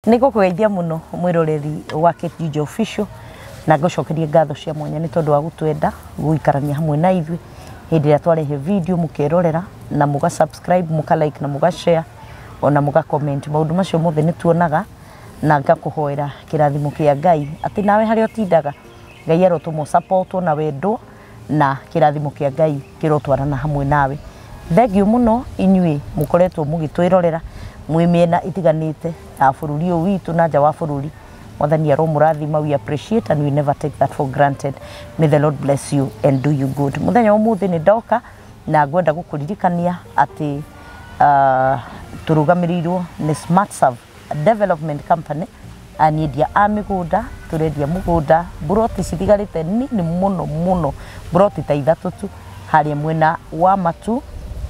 Nĩ ngũkũgeithia mũno mwĩroreri wa Kĩnjinjo Official na ngũcokerie ngatho cia mwanya nĩ tondũ wa gũtwenda gũikarania hamwe na ithuĩ hĩndĩ ĩrĩa twarehe video mũkerorera na mũga subscribe mũka like na mũga share ona mũga comment maũndũ macio mothe nĩ tuonaga na ngakũhoera kĩrathimo kĩa Ngai atĩ nawe harĩa ũtindaga Ngai arotũma ũ support wo na wendwo na kĩrathimo kĩa Ngai kĩrotwarana hamwe nawe. Thengiũ mũno inyuĩ mũkoretwo mũgĩtwĩrorera mwĩ mĩena ĩtiganĩte ya bũrũri ũyũ witũ na nja wa bũrũri. Mwathani aromũrathima, we appreciate and we never take that for granted. May the Lord bless you and do you good. Mũthenya wa ũmũthĩ nĩ ndoka na ngwenda gũkũririkania atĩ ah, tũrũgamĩrĩirwo nĩ Smart Serve Development Company na nĩ endia a mĩgũnda, tũrendia mũgũnda, mburoti citigarĩte nini mũno mũno, mburoti ta ithatũ tu harĩa mwena wa Matu,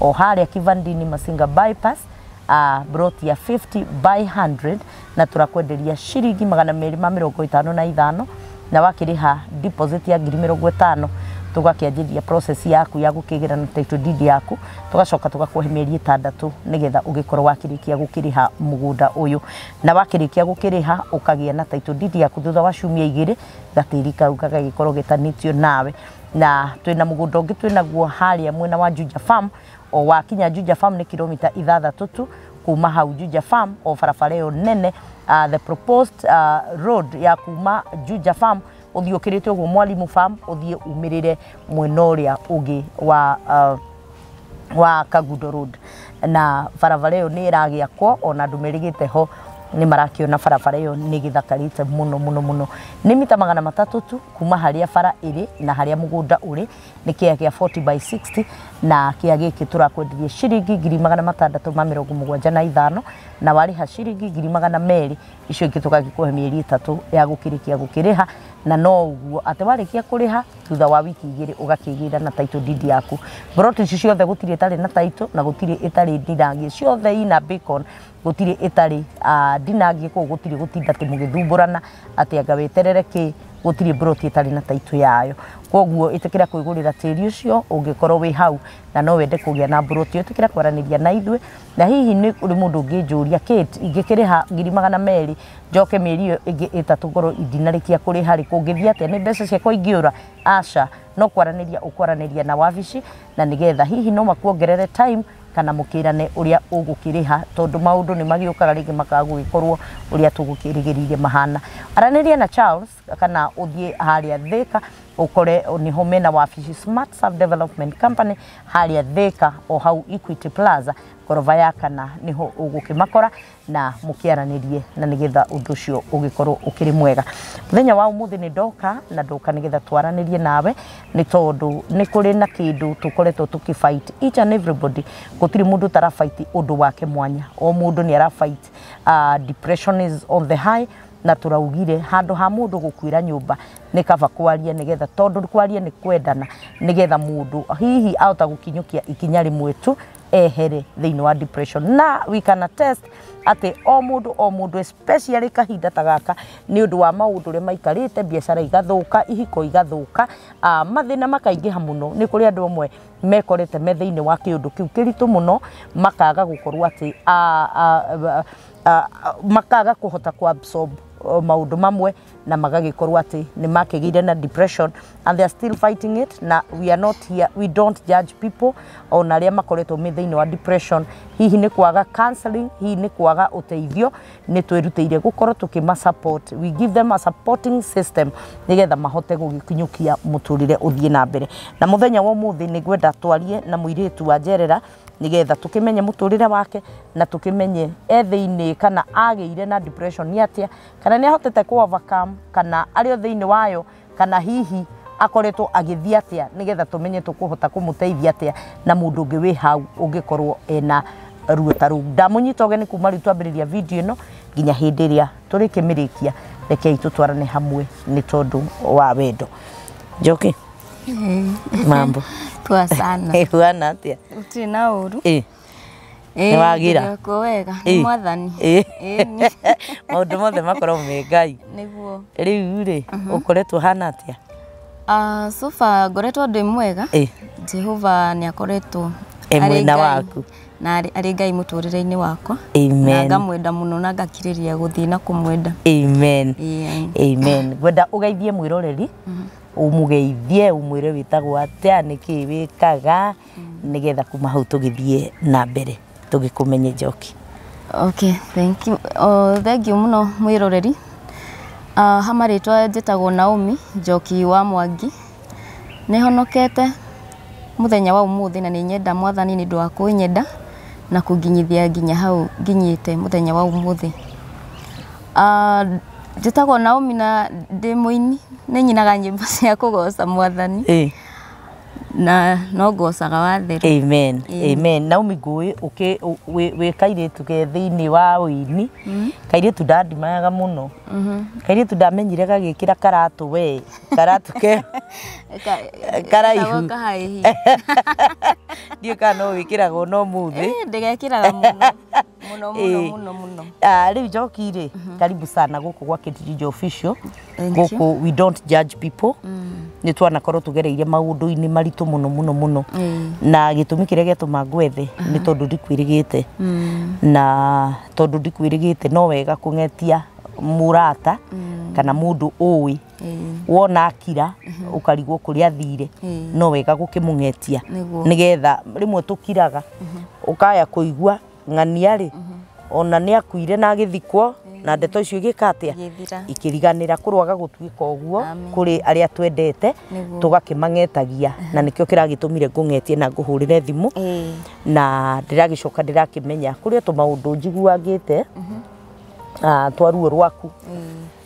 o harĩa Kivandini Masinga bypass, ah, mburoti ya 50 by 100 na tũrakwenderia ciringi magana merĩ ma mĩrongo ĩtano na ithano na wakĩrĩha deposit ya ngiri mĩrongo ĩtano tũgakĩanjĩrĩria process yaku ya gũkĩgĩra na title deed yaku tũgacoka tũgakũhe mĩeri ĩtandatũ nĩgetha ũgĩkorwo wakĩrĩkia gũkĩrĩha mũgũnda ũyũ na wakĩrĩkia gũkĩrĩha ũkagĩa na title deed yaku thutha wa ciumia igĩrĩ gatĩri kau gagagĩkorwo getanĩtio nawe na twĩna mũgũnda ũngĩ twĩnaguo harĩa mwena wa Juja farm o wakinya Juja farm nĩ kilomita ithathatũ tu kuma hau Juja Farm o barabara ĩyo nene uh, the proposed uh, road ya kuma Juja Farm ũthiĩ ũkĩrĩte ũguo Mwalimu Farm ũthiĩ umĩrĩre mwena ũrĩa ũngĩ wa uh, wa Kagudo Road na barabara ĩyo nĩ ĩragĩakwo ona andũ merĩgĩte ho nĩ marakĩona barabara ĩyo nĩ gĩthakarĩte mũno mũno mũno nĩ mita magana matatũ tu kuma harĩa bara ĩrĩ na harĩa mũgũnda ũrĩ nĩ kĩa gĩa 40 by 60 na kĩa gĩkĩ tũrakwenderia ciringi ngiri magana matandatũ ma mĩrongo mũgwanja na ithano na warĩha ciringi ngiri magana merĩ icio ingĩ tũgagĩkũhe mĩeri ĩtatũ ya gũkĩrĩkia gũkĩrĩha na no ũguo atĩ warĩkia kũrĩha thutha wa wiki igĩrĩ ũgakĩgĩra na title deed yaku mburoti ici ciothe gũtirĩ ĩtarĩ na title na gũtirĩ ĩtarĩ ndirangie ciothe ina beacon Gũtirĩ ĩtarĩ ah, ndinangie kũu gũtirĩ gũtinda atĩ mũgĩthumburana atĩ anga weterere kĩ gũtirĩ mburoti ĩtarĩ na taitũ yayo koguo ĩtĩkĩra kwĩgũrĩra tĩri ũcio ũngĩkorwo wĩ hau na no wende kũgĩa na mburoti ĩtĩkĩra kwaranĩria na ithuĩ na hihi nĩ ũrĩ mũndũ ũngĩnjũria Kate ingĩkĩrĩha ngiri magana merĩ njoke mĩeri ĩyo ĩngĩ ĩtatũ ngorwo ndinarĩkia kũrĩha rĩ kũngĩthiĩ atĩa nĩ mbeca ciakwa ingĩũra aca no kwaranĩria ũkwaranĩria na wabici na nĩgetha hihi no makuongerere time kana mũkĩrane ũrĩa ũgũkĩrĩha tondũ maũndũ nĩ magĩũkaga rĩngĩ makaga gũgĩkorwo ũrĩa tũgũkĩrĩgĩrĩire mahana. Aranĩria na Charles kana ũthiĩ harĩa Thĩka ũkore nĩho mena wabici Smart Serve Development Company harĩa Thĩka o hau Equity Plaza ngoroba ya kana nĩho ũgũkĩmakora na mũkĩaranĩrie na nĩgetha ũndũ ũcio ũgĩkorwo ũkĩrĩ mwega mũthenya wa ũmũthĩ nĩ ndoka na ndoka nĩgetha twaranĩrie nawe nĩ tondũ nĩ kũrĩ na kĩndũ tũkoretwo tũkĩfight each and everybody gũtirĩ mũndũ ũtarafight ũndũ wake mwanya o mũndũ nĩ arafight uh, depression is on the high na tũraugire handũ ha mũndũ gũkuĩra nyũmba nĩ kaba kwaria nĩgetha tondũ kwaria nĩ kwendana nĩgetha mũndũ hihi ahota gũkinyũkia ikinya rĩmwe tu ehere thĩinĩ wa depression na we can attest atĩ o mũndũ o mũndũ especially kahinda ta gaka nĩ ũndũ wa maũndũ ũrĩa maikarĩte biacara igathũka ihiko igathũka ah, mathĩna makaingĩha mũno nĩ kũrĩ andũ amwe mekorete me thĩinĩ wa kĩũndũ kĩu kĩritũ mũno makaga gũkorwo atĩ ah, ah, ah, ah, makaga kũhota kũabsorb oh, maũndũ mamwe na magagĩkorwo atĩ nĩ makĩgĩire na depression and they are still fighting it na we are not here, we don't judge people ona arĩa makoretwo me thĩinĩ wa depression hihi nĩ kwaga counseling hihi nĩ kwaga ũteithio nĩ twĩrutĩire gũkorwo tũkĩma support we give them a supporting system nĩgetha mahote gũgĩkinyũkia mũtũrĩre ũthiĩ na mbere na mũthenya wa ũmũthĩ nĩ ngwenda twarie na mũirĩtu wa njerera nĩgetha tũkĩmenye mũtũrĩre wake na tũkĩmenye e thĩinĩ kana agĩire na depression nĩ atĩa kana nä ahotete kå overcome kana arä o thä inä wayo kana hihi akoretwo agĩthiĩ atĩa nĩ getha tũmenye tũkũhota kũmũteithia atĩa na mũndũ ũngĩ wĩ hau ũngĩkorwo ena ruo ta rũu ndamũnyita ũgeni kuma rĩu twambĩrĩria video ĩno nginya hĩndĩ ĩrĩa tũrĩkĩmĩrĩkia rekei tũtwarane hamwe nĩ tondũ wa wendo njoki mambo Poa sana. ĩhuana atĩa Gũtirĩ na ũru. Ĩ. Nĩ wagira? Ndĩrekwo wega nĩ Ĩ. mwathani. Ĩ. Ĩni. maũndũ mothe makoragwo me ngai Nĩguo. rĩu rĩ ũkoretwo hana atĩa Ah, so far ngoretwo ndĩ mwega. Ĩ. Jehova nĩ akoretwo E arĩ mwena Ngai- waku. na arĩ arĩ Ngai mũtũrĩre-inĩ wakwa. Na amen ngamwenda mũno na ngakirĩria gũthiĩ na kũmwenda. amen Ĩĩ. amen ngwenda ũgeithie mwĩroreri ũmũgeithie ũmwĩre wĩtagwo atĩa nĩkĩ wĩkaga nĩgetha kuma hau tũgĩthiĩ na mbere tũgĩkũmenye njoki. Okay, thank you. O, thengiũ mũno mwĩroreri. Uh, ha marĩtwa njĩtagwo Naomi Njoki wa Mwangi. Nĩ honokete mũthenya wa ũmũthĩ na nĩ nyenda mwathani nĩ ũndũ wa kũnyenda na kũnginyithia nginya hau nginyĩte mũthenya wa ũmũthĩ. Uh, njĩtagwo Naomi na ndĩ mũini nĩ nyinaga nyĩmbo cia kũgoca mwathani. Ĩĩ. na no ngocaga wathera amen amen naomi ngũĩ ũkĩ- ũ- wĩ wĩ kairĩtu ge thĩinĩ wa ũini kairĩtu ndandimayaga mũno kairĩtu ndamenyire gagĩkĩra karatũ we karatũ ke Karaihu. kahaihi ndiũĩ kana no wĩkĩraga ona ũmũthĩ ndĩgekĩraga mũno Mũno mũno Ĩĩ. mũno mũno. Ah, rĩu njoki rĩ karibu sana gũkũ gwa kĩtirinjo official Thank you. gũkũ we don't judge people nĩ twanakorwo tũgereire maũndũ-inĩ maritũ mũno mũno mũno Ĩĩ. na gĩtũmi kĩrĩa gĩatũma ngwethe nĩ tondũ ndikwĩrĩgĩte na tondũ ndikwĩrĩgĩte no wega kũng'etia mũrata kana mũndũ ũĩ wona akira ũkarigwo kũrĩa athire no wega gũkĩmũng'etia Nĩguo. nĩgetha rĩmwe tũkiraga ũkaya kũigua ng'ania rĩ ona nĩ akuire na agĩthikwo na ndeto icio igĩka atĩa Igĩthira. ikĩriganĩra kũrwaga gũtuĩka ũguo Amen. kũrĩ arĩa twendete Nĩguo. tũgakĩmang'etagia na nĩkĩo kĩragĩtũmire ngũng'etie na ngũhũrĩre thimũ Ĩĩ. na ndĩragĩcoka ndĩrakĩmenya kũrĩ o tũmaũndũ njiguagĩte ah, twa ruo rwaku Ĩĩ.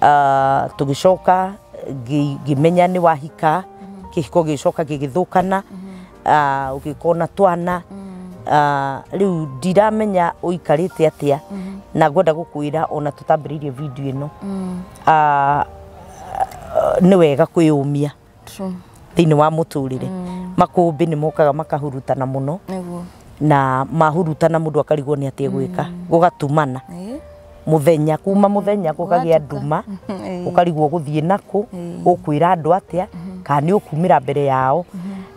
Ah, tũgĩcoka ngĩ- ngĩmenya nĩ wahika kĩhiko gĩgĩcoka gĩgĩthũkana Ah, ũgĩkorwo na twana Ah, rĩu ndiramenya ũikarĩte atĩa na ngwenda gũkwĩra ona tũtambĩrĩirie video ĩno Ah, nĩ wega kwĩyũmia True. thĩinĩ wa mũtũrĩre mm. makũmbĩ nĩ mokaga makahurutana mũno Nĩguo. na mahurutana mũndũ akarigwo nĩ atĩ gwĩka mm. gũgatumana Eh, muthenya kuma muthenya gũkagĩa nduma Eh. ũkarigwo gũthiĩ nakũ Mm. ũkwĩra andũ atĩa kana nĩ ũkumĩra mbere yao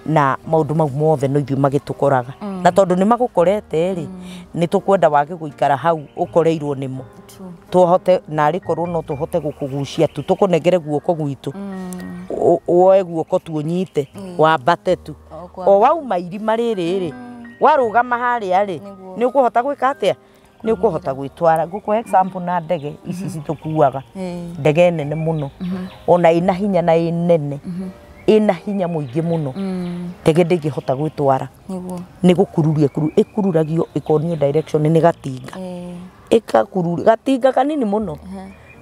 na maũndũ mau mothe no ithuĩ magĩtũkoraga na tondũ nĩ magũkorete rĩ nĩ tũkwenda wage gũikara hau ũkoreirwo nĩmo tũhote narĩ korwo no tũhote gũkũgucia tu tũkũnengere guoko gwitũ mm. woe guoko tu ũnyite mm. wambate tu o wauma irima rĩrĩ rĩ mm. warũgama harĩa rĩ nĩ ũkũhota gwĩka atĩa nä å kå hota gwä twara ngå kå example na ndege ici mhm. citå kuaga ndege nene må no mhm. ona ä na hinya na ä nene mhm. ä na hinya må ingä må no mm. ndege ndä ngä hota gwä twara nä gå kururia kuru ä kururagio ä konio nä gatinga ĩgakururio, gatinga kanini mũno,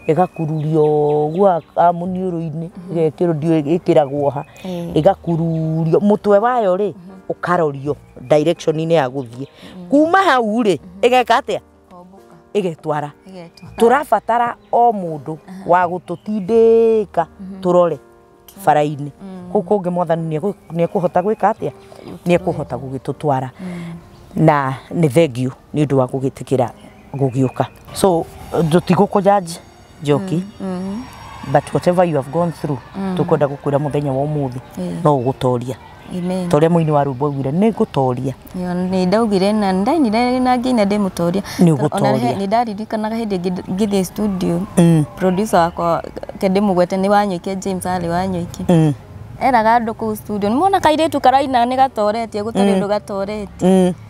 ĩgakururio ũguo haha mũniũrũ-inĩ, ĩgekĩrwo ndiũĩ ĩkĩragwo ha, ĩgakururio, mũtwe wayo rĩ, ũkarorio direction -inĩ ya gũthiĩ. Kuuma hau rĩ, ĩgeka atĩa? Ĩgetwara. Tũrabatara o mũndũ wa gũtũtindĩĩka tũrore. bara-inĩ kũu kũngĩ mwathani nĩegũ- nĩekũhota gwĩka atĩa nĩekũhota gũgĩtũtwara na nĩ thengiũ nĩ ũndũ wa gũgĩtĩkĩra gũgĩũka so tũtigũkũjanji njoki but whatever you have gone through tũkwenda gũkwĩra mũthenya wa ũmũthĩ no ũgũtoria Amen. ta ũrĩa mũini wa rwĩmbo augire nĩ ngũtoria Yo, nĩ ndaugire na nĩ ndainire na ngĩina ndĩmũtoria Nĩ ũgũtoria. nĩ ndaririkanaga hĩndĩ ĩngĩ ngĩthiĩ studio Mm. producer wakwa ke ndĩmũgwete nĩ wanyoike James arĩ wanyoike Mm, eraga andũ kũu studio nĩ mona kairĩtu karaina nĩ gatoretie gũtarĩ ũndũ gatoretie mm.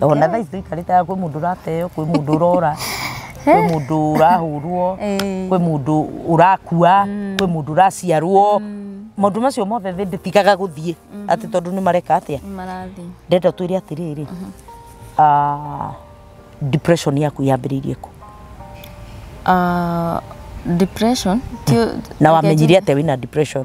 ona thaa ici tũikarĩte haha kwĩ mũndũ ũrateo kwĩ mũndũ ũrora kwĩ mũndũ ũrahũrwo Ĩĩ. kwĩ mũndũ ũrakua kwĩ mũndũ ũraciarwo maũndũ macio mothe thĩ ndĩtigaga gũthiĩ atĩ tondũ nĩ mareka atĩa marathiĩ ndenda twĩre atĩrĩrĩ ah, depression yaku yambĩrĩirie kũ Ah, depression ti- na wamenyire atĩa wĩna depression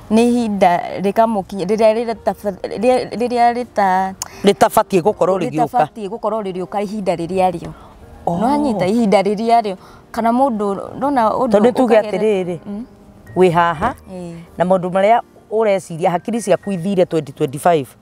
nĩ ihinda rĩkamũkinyĩra rĩrĩa rĩta rĩrĩa rĩta rĩtabatiĩ gũkorwo rĩgĩũka rĩtabatiĩ gũkorwo rĩrĩũka ihinda rĩrĩa rĩo oh. nĩwanyita ihinda rĩrĩa rĩo kana mũndũ ndona ũndũ tondũ tuge atĩrĩrĩ mm. wĩ haha na maũndũ marĩa ũreciria hakiri ciaku ithire 2025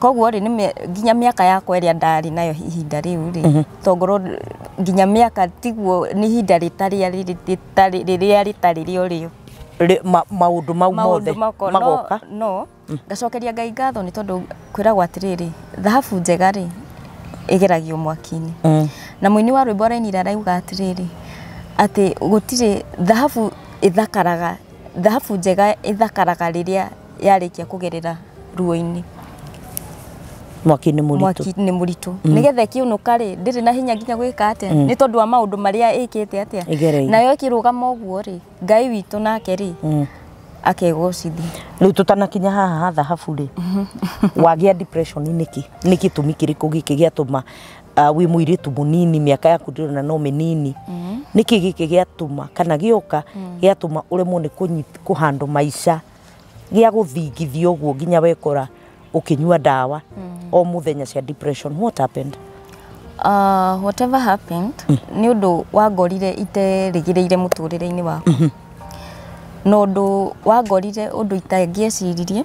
koguo rĩ nginya mĩaka yakwa ĩrĩa ndarĩ nayo ihinda rĩu rĩ to ngorwo nginya mĩaka tiguo nĩ ihinda rĩrĩa rĩtarĩ rĩo rĩo maũndũ mau mothe magoka no ngacokeria Ngai ngatho nĩ tondũ kwĩragwo atĩrĩrĩ thahabu njega rĩ ĩgeragio mwaki-inĩ na mũini wa rwĩmbo arainire arauga atĩrĩrĩ atĩ gũtirĩ thahabu ĩthakaraga. Thahabu njega ĩthakaraga rĩrĩa yarĩkia kũgerera ruo-inĩ. Mwaki-inĩ mũritũ. Mwaki-inĩ mũritũ. Mm. Nĩgetha ĩkĩũnũka rĩ, ndĩrĩ na hinya nginya gwĩka atĩa? Mm. Nĩ tondũ wa maũndũ marĩa ĩkĩte atĩa? Ĩgereire. Nayo ĩkĩrũgama ũguo rĩ, Ngai witũ nake rĩ, mm. akegocithia. Rĩu tũtanakinya haha ha thahabu rĩ, wagĩa depression nĩkĩ? Nĩ gĩtũmi kĩrĩkũ gĩkĩ gĩatũma uh, wĩ mũirĩtu mũnini mĩaka yaku ndĩrĩ na no mĩnini mm. nĩkĩ gĩkĩ gĩatũma kana gĩoka mm. gĩatũma ũremwo nĩ kũnyit- kũhandũ maica gĩa gũthingithia ũguo nginya wekora ũkĩnyua ndawa mm. o mũthenya cia depression what happened Uh, whatever happened nĩ ũndũ wangorire iterĩgĩrĩire mũtũrĩre-inĩ wakwa na ũndũ wangorire ũndũ itangĩeciririe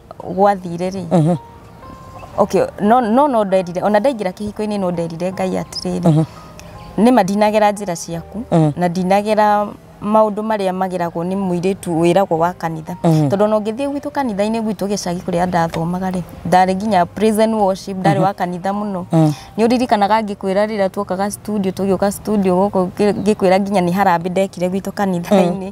gwathire rĩ okay no no no nderire ona ndaingĩra kĩhiko-inĩ no nderire ngai atĩrĩrĩ nĩ ma ndinagera njĩra ciaku na ndinagera maũndũ marĩa mageragwo nĩ mũirĩtu wĩragwo wa kanitha tondũ ona ũngĩthiĩ gwitũ kanitha-inĩ gwitũ gĩcagi kũrĩa ndathomaga rĩ ndarĩ nginya praise and worship ndarĩ wa kanitha mũno nĩ ũririkanaga ngĩkwĩra rĩrĩa tuokaga studio tũgĩũka studio gũkũ ngĩkwĩra nginya nĩ harambĩ ndekire gwitũ kanitha-inĩ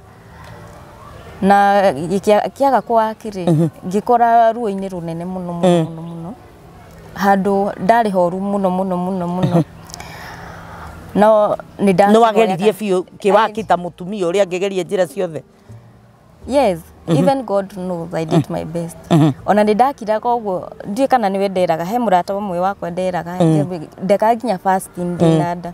na gĩkĩa- kĩaga kwaki rĩ ngĩkora ruo-inĩ rũnene mũno mũno mũno mũno handũ ndarĩ horu mũno mũno mũno mũno no nĩ nĩ wageririe biũ kĩwaki ta mũtumia ũrĩa angĩgeria njĩra ciothe yes even god knows i did my best ona nĩ ndakiraga ũguo ndiĩ kana nĩwe nderaga he mũrata ũmwe wakwa nderaga ndeka nginya fasting ndĩna nda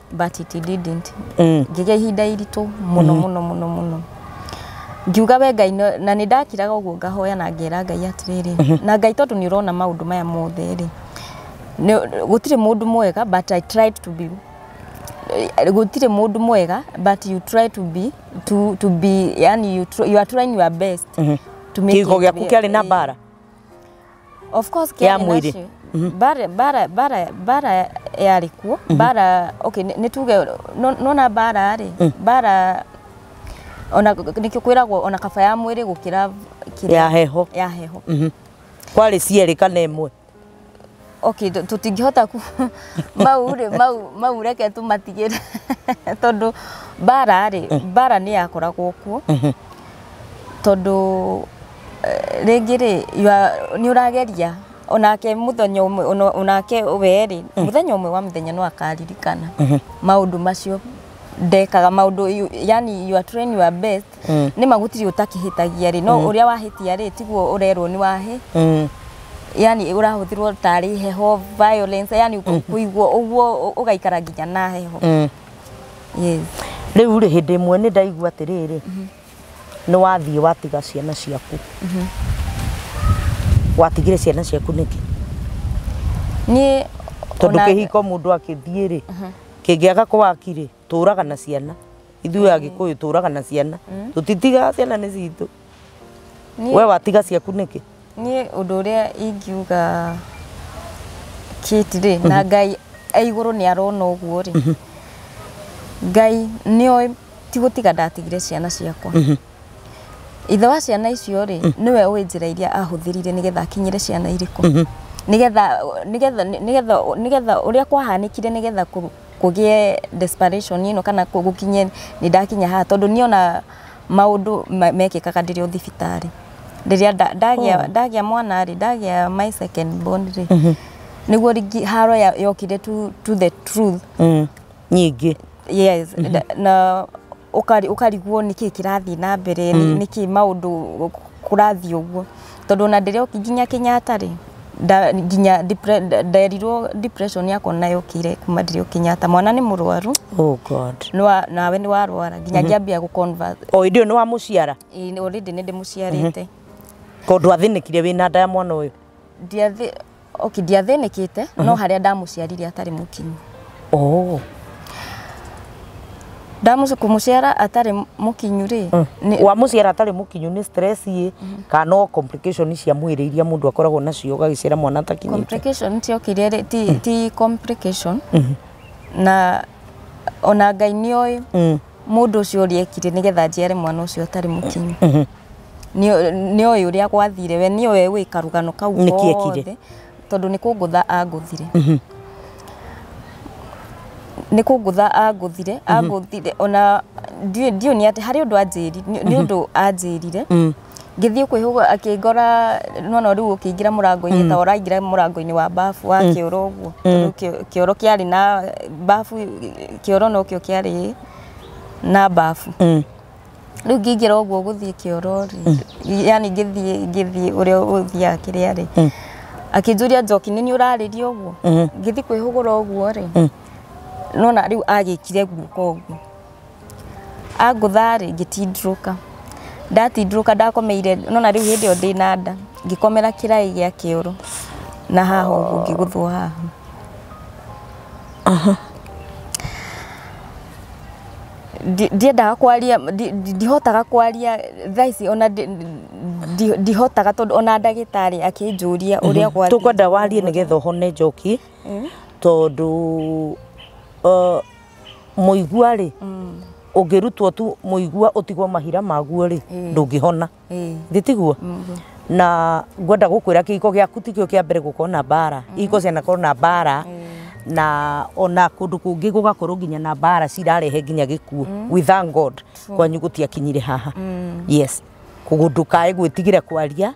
but it didn't Mm. ngĩgĩa ihinda iritũ mũno mũno mũno mũno ngiuga we ngai no- na nĩ ndakiraga ũguo ngahoya na ngera ngai atĩrĩrĩ na ngai tondũ nĩ ũrona maũndũ maya mothe rĩ nĩ- gũtirĩ mũndũ mwega but i tried to be gũtirĩ mũndũ mwega but you try to be to, to be yani you, tr- you are trying your best to make Kĩhiko it gĩaku real. kĩarĩ na Eh, mbara. of course Ya Kenya mwĩrĩ. nacio. bara bara bara bara yarĩ kuo bara okay nĩ nĩ tuge no- nona bara rĩ bara ona nĩkĩo kwĩragwo ona kaba ya mwĩrĩ gũkĩra kĩrĩa- ya heho ya heho Mhm. kwarĩ cierĩ kana ĩmwe okay tũ- tũtingĩhota ku mau rĩ mau mau reke tũmatigĩre tondũ bara rĩ bara nĩ yakoragwo kuo tondũ Rĩngĩ rĩ, nĩ ũrageria, o nake mũthenya ũmwe, o nake we rĩ, mũthenya ũmwe wa mĩthenya no akaririkana maũndũ macio ndekaga, maũndũ yaani you are trying your best, nĩ ma gũtirĩ ũtakĩhĩtagia rĩ, no ũrĩa wahĩtia rĩ, tiguo ũrerwo nĩ wahĩ, yaani ũrahũthĩrwo tarĩ heho, violence, yaani kũiguo ũguo ũgaikara nginya na heho. Rĩu rĩ, hĩndĩ ĩmwe nĩ ndaigua atĩrĩrĩ. nĩ wathiĩ watiga ciana ciaku mhm. watigire ciana ciaku nĩkĩ niĩ tondũ kĩhiko mũndũ akĩthiĩ rĩ mhm. kĩngĩaga kwakirĩ tũraga na ciana ithuĩ mm. agĩkũyũ tũraga na ciana mm. tũtitigaga ciana nĩ citũ we watiga ciaku nĩkĩ Niĩ ũndũ ũrĩa ingiuga Kate rĩ, na Ngai e igũrũ nĩ arona ũguo rĩ, Ngai nĩ oĩ ti gũtiga ndatigire ciana ciakwa. Ithe wa ciana icio rĩ, nĩwe ũĩ njĩra iria ahũthĩrire nĩgetha akinyĩre ciana irĩkũ. Nĩgetha nĩgetha nĩgetha nĩgetha ũrĩa kwahanĩkire nĩgetha kũgĩe desperation ĩno kana gũkinye nĩ ndakinya haha tondũ nĩ onaga maũndũ me- mekĩkaga ndĩrĩ o thibitarĩ rĩrĩa nda- ndagĩa Oh. ndagĩa mwana rĩ ndagĩa my second born rĩ nĩguo rĩngĩ haro ya- yokire to, to the truth Mm. nyingĩ yes na, na ũkari- ũkarigwo nĩkĩ kĩrathiĩ na mbere mm. nĩkĩ maũndũ kũrathiĩ ũguo Tondũ ona ndĩrĩ oki nginya Kenyatta rĩ, nginya nderirwo depression yakwa ona yokire kuma ndĩrĩ o Kenyatta. Mwana nĩ mũrwaru, nawe nĩ warwara nginya ngĩambia gũ convert. O hĩndĩ ĩyo nĩ wa mũciara? Ĩĩ already nĩ ndĩmũciarĩte. Tondũ athĩnĩkire wĩna nda ya mwana ũyũ? Ok, ndiathĩnĩkĩte no harĩa ndamũciarire atarĩ mũkinyu. Oh. Ndamũci kũmũciara atarĩ mũkinyu rĩ, nĩ- wa mũciara atarĩ mũkinyu nĩ stress ĩ kana no complication cia mwĩrĩ iria mũndũ akoragwo nacio ũgagĩciara mwana atakinyĩte complication ciokire rĩ, ti, ti complication na ona Ngai nĩoĩ Mm. Mũndũ ũcio ũrĩa ekire nĩgetha njiare mwana ũcio atarĩ mũkinyu. Mhm. Nĩ oĩ ũrĩa gwathire we nĩ oĩ wĩ karũgano kau gothe tondũ nĩ kũngũtha angũthire. Mhm. Nĩ kũngũtha angũthire, mhm. angũthire ona ndiũĩ nĩ atĩ harĩ ũndũ anjĩrire, nĩ ũndũ anjĩrire. Mm. Ngĩthiĩ kwĩhũga akĩngora nona rĩu ũkĩingĩra mũrango-inĩ mm. ta ũraingĩra mũrango-inĩ wa bafu wa mm. kĩoro ũguo mm. kĩoro kĩarĩ na bafu kĩoro no kĩo kĩarĩ na bafu mm. rĩu ngĩingĩra ũguo gũthiĩ kĩoro rĩ mm. yani ngĩthiĩ ngĩthiĩ ũrĩa ũthiaga kĩrĩa rĩ mm. akĩnjũria njoki nĩ ũrarĩria ũguo mm-hmm. ngĩthiĩ kwĩhũgũra ũguo rĩ mm. nona rĩu agĩkire guoko ũguo Angũtha-rĩ, ngĩtindĩrũka, ndatindĩrũka ndakomeire, nĩ wona rĩu hĩndĩ ĩyo ndĩ na nda, ngĩkomera kĩraĩ gĩa kĩoro na haha ũguo ngĩgũthwo haha. Ndiendaga kwaria, ndihotaga kwaria thaa ici ona ndihotaga tondũ ona ndagĩtarĩ akĩnjũria ũrĩa gwathiĩ. Tũkwenda warie nĩgetha ũhone njoki tondũ mũigua rĩ ũngĩrutwo tu mũigua ũtigwo mahira maguo rĩ ndũngĩhona Ĩĩ. githĩ tiguo na ngwenda gũkwĩra kĩhiko gĩaku tikĩo kĩa mbere gũkorwo na mbara ihiko cianakorwo na mbara na ona kũndũ kũngĩ gũgakorwo nginya na mbara cirarehe nginya gĩkuũ we thank god kwanyu gũtiakinyire haha yes kũndũ kaĩ gwĩtigĩra kwaria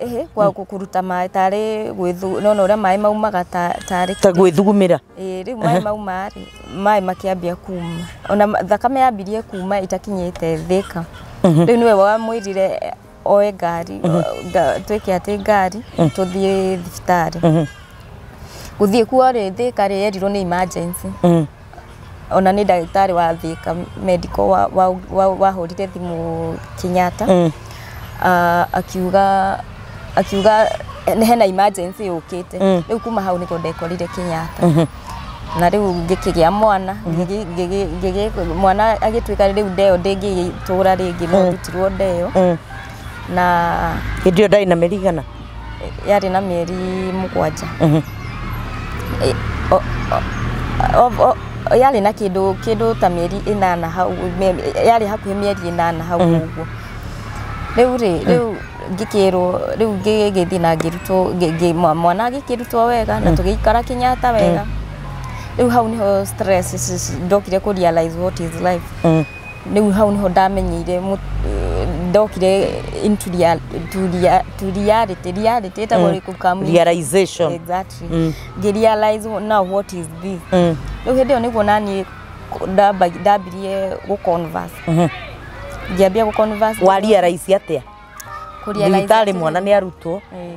Ĩhĩ, kwa kũ- kũruta maĩ tarĩ gwĩthu nona ũrĩa maĩ maumaga ta- tarĩ ta gwĩthugumĩra Ĩĩ, rĩu maĩ mauma rĩ maĩ makĩambia kuma ona ma- thakame yambirie kuma ĩtakinyĩte thĩka rĩu nĩwe wamwĩrire eh, oe ngari o- nga- twĩke atĩ ngari tũthiĩ thibitarĩ gũthiĩ kuo rĩ thĩka rĩ erirwo nĩ emergency Mm. Ona nĩ ndagĩtarĩ wa Thika Medical wahũrire thimũ Kenyatta akiuga, akiuga hena emergency yũkĩte. Rĩu kuma hau nĩho ndekorire Kenyatta. Na rĩu ngĩkĩgĩa mwana, mwana agĩtuĩka rĩu nda ĩyo ndĩngĩgĩtũra rĩngĩ no ndutirwo nda ĩyo. Hĩndĩ ĩyo ndarĩ na mĩeri igana? yarĩ na mĩeri mũgwanja yarĩ na kĩndũ ta mĩeri ĩnana hau yarĩ hakuhĩ mĩeri ĩnana hau ũguo, rĩu rĩ rĩu ngĩkĩrwo rĩu ngĩgĩthiĩ na ngĩrutwo mwana agĩkĩrutwo wega na tũgĩikara Kenyatta wega, rĩu hau nĩho stress ndokire kũ realise what is life. rĩu hau nĩho ndamenyeire ndokire into reality, reality ĩtagwo rĩngĩ come into- Realization. Exactly. Ngĩ realize now what is this rĩu hĩndĩ ĩyo nĩguo naniĩ ndamba- ndambirie gũ converse ngĩambia gũ converse wa realize atĩa kũ realize thibitarĩ atĩrĩ- mwana nĩ arutwo Eh,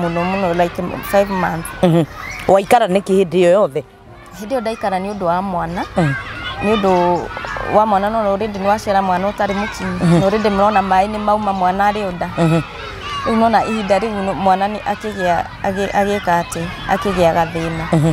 mũno mũno like five months Mhm. waikara nĩkĩ hĩndĩ ĩyo yothe hĩndĩ ĩyo ndaikara nĩ ũndũ wa mwana Mm. nĩ ũndũ wa mwana no rĩndĩ nĩ waciara mwana ũtarĩ mũkinyi no rĩndĩ mrona maĩ nĩ mauma mwana arĩ ũnda Mhm. rĩu nona ihinda rĩu no- mwana nĩ akĩgĩa agĩ- agĩka atĩ akĩgĩa gathĩna Mhm.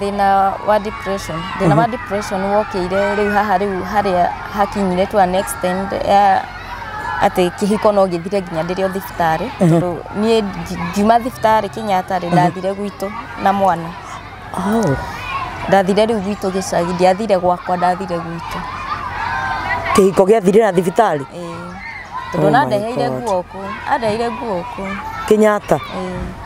Thĩna wa depression, thĩna wa depression wokĩire rĩu haha rĩu harĩa hakinyire to an extent ya atĩ kĩhiko no gĩthire nginya ndĩrĩ o thibitarĩ tondũ niĩ ngi- ngiuma thibitarĩ Kenyatta rĩ ndathire gwitũ na mwana Oh, ndathire rĩu gwitũ gĩcagi ndiathire gwakwa ndathire gwitũ kĩhiko gĩathirĩra thibitarĩ Ĩĩ. Oh tondũ my na ndeheire God. nguo kũ andeheire nguo kũ Kenyatta. Ĩĩ.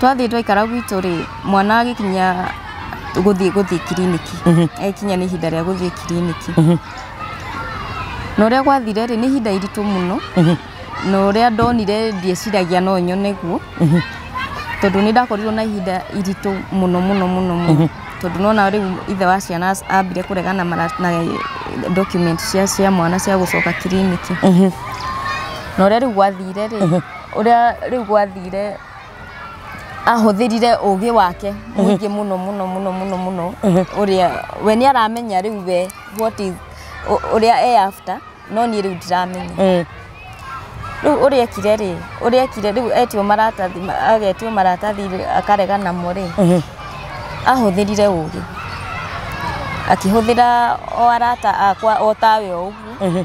twathiĩ twaikara gwitũ rĩ mwana agĩkinya gũthiĩ gũthiĩ kiriniki agĩkinya nĩ ihinda rĩa gũthiĩ kiriniki na ũrĩa gwathire rĩ nĩ ihinda iritũ mũno na ũrĩa ndonire ndieciragia no nyone guo tondũ nĩ ndakorirwo na ihinda iritũ mũno mũno mũno mũno tondũ nona rĩu ithe wa ciana ambire kũregana na mara- na document cia cia mwana cia gũcoka kiriniki na ũrĩa rĩu gwathire rĩ Ũrĩa rĩu gwathire ahũthĩrire ũgĩ wake mũingĩ mũno mũno mũno mũno mũno ũrĩa we nĩ aramenya rĩu we what is ũ- ũrĩa e after no niĩ rĩu ndiramenya Mm. rĩu ũrĩa ekire rĩ ũrĩa ekire rĩu etio maratathi ma- agetio maratathi rĩ, akarega namo rĩ Mhm. ahũthĩrire ũgĩ akĩhũthĩra o arata akwa o tawe o ũguo Mhm.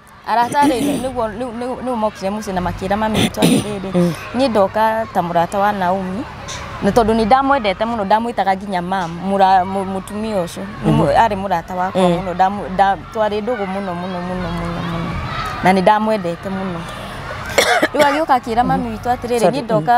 Arata rĩ, nĩguo rĩu nĩũ nĩũ mokire mũciĩ na makĩra mami witũ atĩrĩrĩ, niĩ ndoka ta mũrata wa Naomi, na tondũ nĩndamwendete mũno ndamwĩtaga nginya mum mũra mũ mũtumia ũcio nĩmũ arĩ mũrata wakwa mũno ndamũ nda twarĩ ndũgũ mũno mũno mũno mũno mũno, na nĩndamwendete mũno, rĩu agĩũka akĩra mami witũ atĩrĩrĩ niĩ ndoka.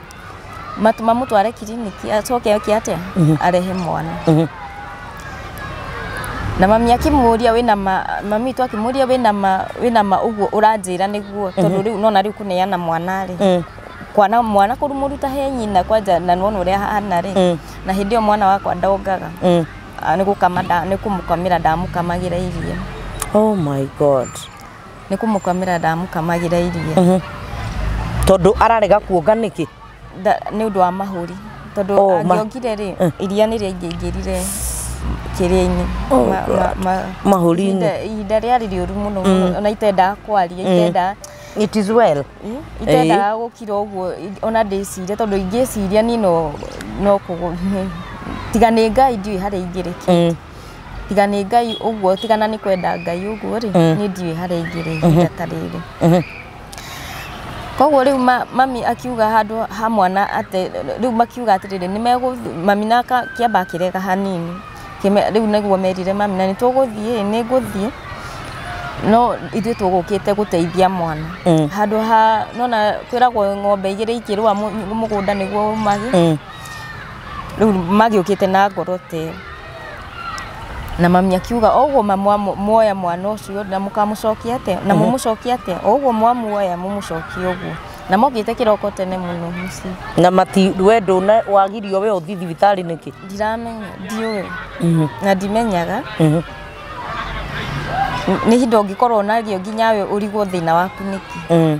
Mat- mamũtware kiriniki acoke oke atĩa arehe mwana Mhm. na mami akĩmũria wĩna ma mami witũ akĩmũria wĩna ma wĩna ma ũguo ũranjĩra nĩguo tondũ rĩu nona rĩu kũneana mwana rĩ Mm. kwana mwana kũrumuruta he nyina kwanja na nona ũrĩa hana rĩ Mm. na hĩndĩ ĩyo mwana wakwa ndongaga Mm. Ah, nĩ gũkama nda- nĩ kũmũkamĩra ndamũkamagĩra iria Oh my God. nä kå må kamä ndamũkamagä ra iria Mhm. tondå ararega kuonga nä kä Nda- nĩ ũndå wa mahũri tondå Oh, ma- angĩongire rĩ Eh. iria nĩ rĩaingĩingĩrire kĩrĩa-inĩ Oh, ma- ma- ma- mahũri-inĩ. ihinda- ihinda rĩarĩ rĩũru mũno mũno ona itendaga kwaria itendaga it is well Ĩ, itendaga gũkira ũguo i- ona ndĩciria tondå ingĩciria niĩ no no kũgũ- tiga nĩ ngai ndiũĩ harĩa ingĩrĩkĩra Mm. tiga nĩ ngai ũguo tiga na nĩ kwenda ngai ũguo rĩ nĩ ndiũĩ harĩa ingĩrĩ ihinda ta rĩrĩ koguo rĩu ma- mami akiuga handũ ha mwana atĩ rĩu makiuga atĩrĩrĩ nĩ megũ mami na ka- kĩamba akĩrega hanini Kĩme- rĩu nĩguo merire mami na nĩ tũgũthiĩ nĩ ngũthiĩ no ithuĩ tũgũkĩte gũteithia mwana handũ ha nona kwĩragwo ng'ombe igĩrĩ ikĩrũa mũ- mũgũnda nĩguo ũmage rĩu magĩũkĩte na ngoro tĩ na mami akiuga o ũguo mamwa- muoya mwana ũcio na mũkamũcokia atĩa na mũmũcokia atĩa o ũguo mwamuoya mũmũcokie ũguo na mokĩte kĩroko tene mũno mũciĩ na mati we ndũna wagirio we ũthi thibitarĩ nĩkĩ ndiramenya ndiũĩ na ndimenyaga nĩ hinda ũngĩkorwo nario nginya we ũrigwo thĩna waku nĩkĩ Mm.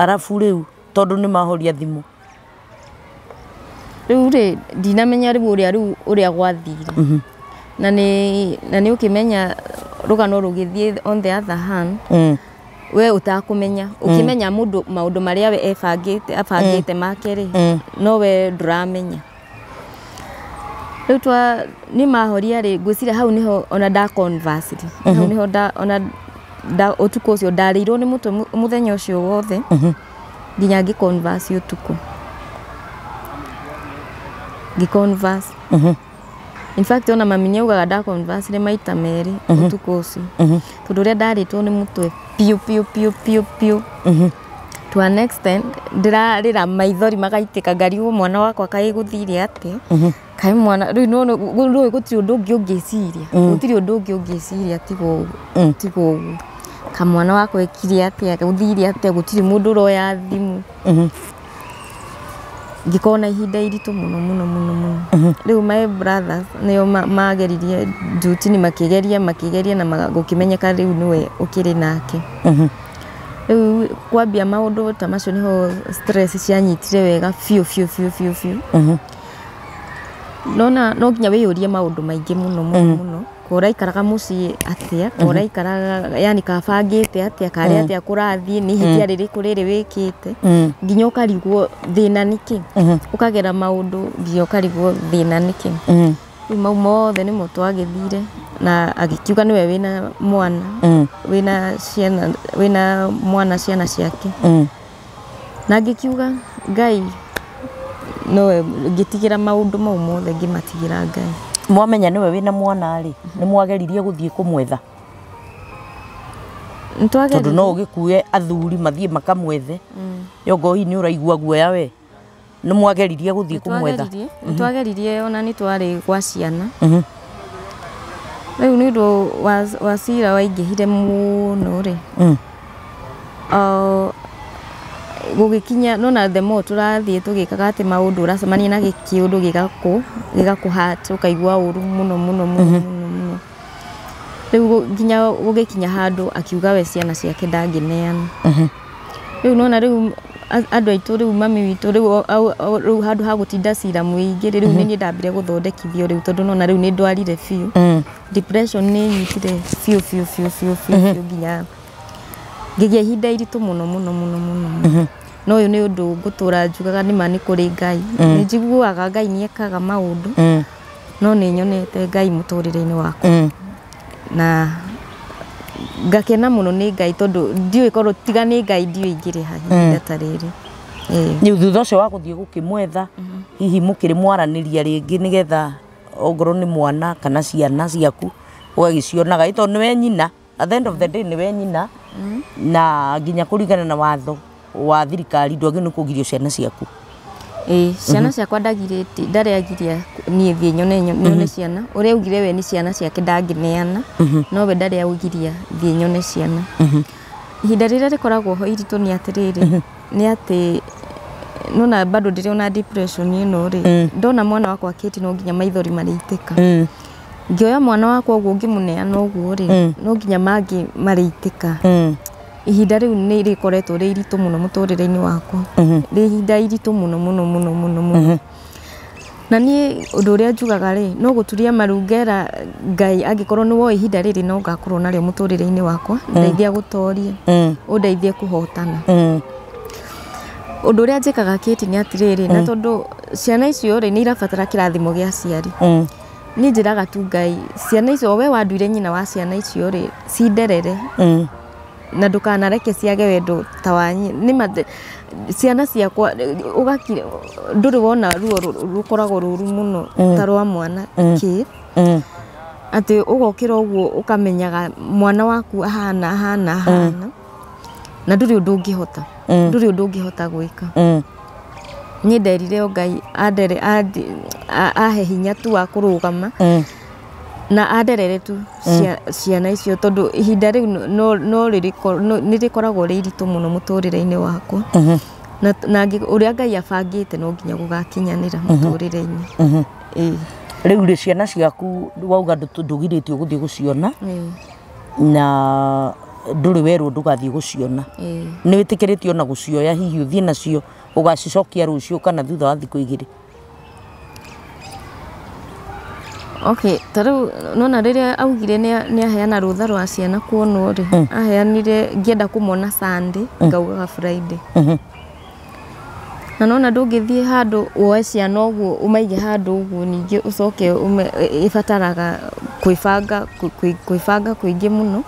Arabu rĩu tondũ nĩ mahoria thimũ. Rĩu rĩ ndinamenya rĩu ũrĩa rĩu ũrĩa gwathire. Na nĩ na nĩ ũkĩmenya rũgano rũgĩthiĩ on the other hand we ũtakũmenya. Ũkĩmenya mũndũ maũndũ marĩa we ebangĩte abangĩte make rĩ, no we ndũramenya. rĩu twa niĩ mahoria rĩ ngwĩciria hau nĩho ona nda conversed hau nĩho nda ona nda ũtukũ ũcio ndarĩirwo nĩ mũtwe mũ- mũthenya ũcio wothe nginya ngĩ converse ũtukũ ngĩ converse in fact ona mami nĩ augaga nda converse nĩ maita merĩ ũtukũ ũcio tondũ ũrĩa ndarĩtwo nĩ mũtwe biũ biũ biũ biũ biũ to an extent ndĩrarĩra maithori magaitĩka ngario mwana wakwa kaĩ gũthire atĩa kaĩ mwana rĩu nĩwona rĩu gũtirĩ ũndũ ũngĩ ũngĩciria gũtirĩ ũndũ ũngĩ ũngĩciria tiga ũguo tiga ũguo kamwana wakwa ekire atĩa gũthire atĩa gũtirĩ mũndũ ũroya thimũ ngĩkorwo na ihinda iritũ mũno mũno mũno mũno rĩu my brothers nĩo ma- mageririe njutini makĩgeria makĩgeria na ma- gũkĩmenyeka rĩu nĩwe ũkĩrĩ nake Rĩu kwambia maũndũ ta macio nĩho stress cianyitire wega biũ biũ biũ biũ biũ. Nona no nginya wĩyũrie maũndũ maingĩ mũno mũno mũno. Ko ũraikaraga mũciĩ atĩa, ko ũraikaraga yani ka bangĩte atĩa, karĩ atĩa kũrathiĩ, nĩ ihĩtia rĩrĩkũ rĩrĩ wĩkĩte. Nginya ũkarigwo thĩna nĩ kĩ? Ũkagera maũndũ nginya ũkarigwo thĩna nĩ kĩ? Rĩu mau mothe nĩmo twagĩthire na agĩkiuga nĩwe wĩna mwana Mm. wĩna ciana wĩna mwana ciana ciake Mm. na ngĩkiuga ngai nowe ngĩtigĩra maũndũ mau mothe ngĩmatigĩra ngai mwamenya nĩwe wĩna mwana rĩ nĩ mwageririe gũthiĩ kũmwetha tondũ no nĩtwageririe ũgĩkue athuri mathiĩ makamwethe Mm. yongoi nĩ ũraigua guoya we nĩ mwageririe gũthiĩ kũmwetha Nĩtwageririe- nĩtwageririe ona nĩ twarĩ gwa ciana Mhm. rĩu nĩ ũndũ wa- wa cira waingĩhire mũno rĩ Mm. Ah, gũgĩkinya nona the more tũrathiĩ tũgĩkaga atĩ maũndũ ũracemania na gĩ- kĩũndũ gĩgakũ gĩgakũhat ũkaigua ũru mũno mũno mũno mũno mũno rĩu gũ- nginya gũgĩkinya handũ akiuga we ciana ciake ndangĩneana Rĩu nĩ wona rĩu andũ aitũ rĩu mami witũ rĩu rĩu handũ ha gũtinda cira mũingĩ rĩ, rĩu nĩ niĩ ndambire gũthondekithio rĩu tondũ nĩ wona rĩu nĩ ndwarire biũ. Depression nĩ ĩnyitire biũ biũ biũ biũ biũ biũ nginya ngĩgĩa ihinda iritũ mũno mũno mũno mũno mũno. No ũyũ nĩ ũndũ ngũtũra njugaga nĩ ma nĩ kũrĩ Ngai. Nĩ njiguaga Ngai nĩ ekaga maũndũ. no nĩ nyonete Ngai mũtũrĩre-inĩ wakwa mm. na ngakena mũno nĩ Ngai tondũ ndiũĩ korwo tiga nĩ Ngai ndiũĩ ingĩrĩ ha ihinda mm. ta rĩrĩ rä thutha ũcio wa gũthiĩ gũkĩmwetha mm-hmm. hihi mũkĩrĩ mwaranĩria rĩngĩ nĩgetha ongorwo nĩ mwana kana ciana ciaku ũgagĩcionaga ĩ tondũ nĩwe nyina At the end of the day nĩwe nyina na nginya kũringana na watho wa thirikari ndwagĩrĩirwo nĩ kũgirio ciana ciaku. Ĩĩ ciana ciakwa ndagirĩtie ndarĩ agiria niĩ thiĩ nyone nyo- nyone ciana ũrĩa augire we nĩ ciana ciake ndangĩneana no we ndarĩ augiria thiĩ nyone ciana ihinda rĩrĩa rĩkoragwo ho iritũ nĩ atĩrĩrĩ nĩ atĩ nona bado ndĩrĩ ona depression ĩno rĩ ndona mwana wakwa kĩti no nginya maithori marĩitĩka Ngĩoya mwana wakwa ũguo ngĩmũneana ũguo rĩ, Mm. no nginya mangĩ marĩitĩka. Mm. Ihinda rĩu nĩ rĩkoretwo rĩ iritũ mũno mũtũrĩre-inĩ wakwa. Mhm. Rĩ ihinda iritũ mũno mũno mũno mũno mũno. Mhm. Na niĩ ũndũ ũrĩa njugaga rĩ, no gũturia maru ngera Ngai angĩkorwo nĩ woĩ ihinda rĩrĩ no ngakorwo narĩo mũtũrĩre-inĩ wakwa, ndeithia gũtoria, Mm. ũndeithie kũhotana. Mm. Ũndũ ũrĩa njĩkaga Kĩti nĩ atĩrĩrĩ, na tondũ ciana icio rĩ, nĩ irabatara kĩrathimo gĩa aciari. Mm. Niĩ njĩraga tu Ngai, ciana icio, o we wanduire nyina wa ciana icio rĩ, cinderere Mm. na ndũkanareke ciage wendo ta wanyi nĩma the- ciana ciakwa ũgakira ndũrĩ wona ruo rũ- rũkoragwo rũru mũno ta rwa mwana kĩ Mm. atĩ ũgokĩra ũguo ũkamenyaga mwana waku ahana ahana ahana na ndũrĩ ũndũ ũngĩhota Mm. ndũrĩ ũndũ ũngĩhota gwĩka Mm. niĩ nderire o ngai andere andi- a- ahe hinya tu wa kũrũgama Mm. na anderere tu cia- ciana icio tondũ ihinda rĩu no- no- no rĩrĩko- no- nĩ rĩkoragwo rĩ iritũ mũno mũtũrĩre-inĩ wakwa Mhm. na na ngĩ- ũrĩa ngai abangĩte no nginya gũgakinyanĩra mũtũrĩre-inĩ Mhm. Ĩĩ, rĩu rĩ ciana ciaku wauga ndũ- ndũgirĩtio gũthiĩ gũciona ĩĩ. na ndũrĩ werwo ndũgathiĩ gũciona Ĩĩ. nĩ wĩtĩkĩrĩtio ona gũcioya hihi ũthiĩ nacio ũgacicokia rũciũ kana thutha wa thikũ igĩrĩ okay ta rĩu nona rĩrĩa augire nĩa- nĩaheana rũtha rwa ciana kuonwo rĩ aheanire ngĩenda kũmona sunday ngaugaga friday Na nĩwona ndũngĩthiĩ handũ woe ciana ũguo ũmaige handũ ũguo ningĩ ũcoke ũme, ĩbataraga kwĩbanga, kwĩbanga kũingĩ mũno.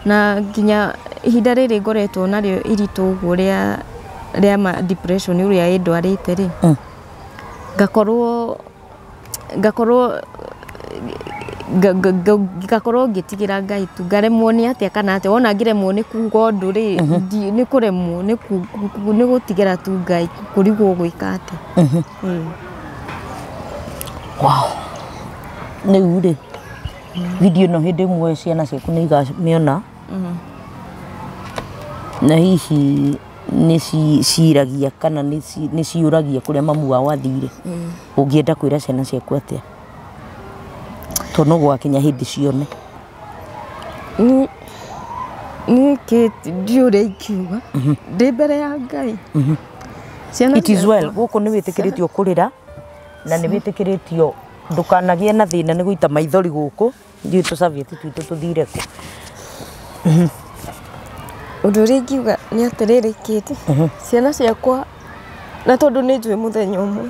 Na nginya ihinda rĩrĩ ngoretwo narĩo iritũ ũguo rĩa, rĩa ma depression ũrĩa ĩndwarĩte rĩ, ngakorwo ngakorwo ngakorwo ngĩtigĩra Ngai tu, ngaremwo nĩ atĩa kana atĩa, wona ngĩremwo nĩ kuga ũndũ rĩ, nĩ kũremwo nĩ gũtigĩra tu Ngai kũrigwo ũgwĩka atĩa. Rĩu rĩ video ĩno hĩndĩ ĩmwe ciana ciaku nĩ ikamĩona. Na hihi nĩ ciragia kana nĩ ciũragia kũrĩa mamu wao athire? Ũngĩenda kwĩra ciana ciaku atĩa? Tondũ no gũgakinya hĩndĩ cione. Niĩ ndiũĩ ũrĩa ingiuga, ndĩ mbere ya Ngai. It is well. Gũkũ nĩ wĩtĩkĩrĩtio kũrĩra na nĩ wĩtĩkĩrĩtio ndũkanagĩe na thĩna nĩ gũita maithori gũkũ. Nditũ cabieti twitũ tũthire kũ? Ũndũ ũrĩa ingiuga nĩ atĩrĩrĩ Kate, ciana ciakwa na tondũ nĩ njũĩ mũthenya ũmwe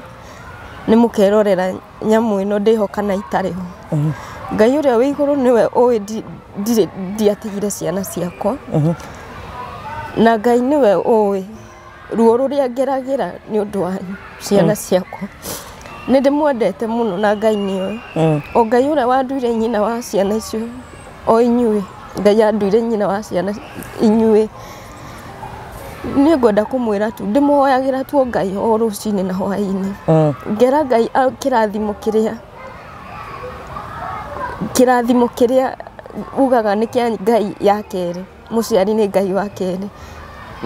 nĩ mũkerorera nyamũ ĩno ndĩ ho kana itarĩ ho. Ngai ũrĩa wĩ igũrũ nĩwe ũĩ ndi- ndirĩ ndiatigire ciana ciakwa na Ngai nĩwe ũĩ. Ruo rũrĩa ngeragĩra nĩ ũndũ wa ciana mm. ciakwa nĩ ndĩmwendete mũno na Ngai nĩ oĩ mm. o Ngai ũrĩa wanduire nyina wa ciana icio o inyuĩ Ngai anduire nyina wa ciana inyuĩ nä ngwenda da kumwira tu ndä muhoyagä tuo ngai o rå cinä na hwainä mm. ngera ngai kä rathimo kä rä a kä rathimo kä rä a ugaga nä kä ngai ya kerä mũciari nĩ Ngai wa kerĩ.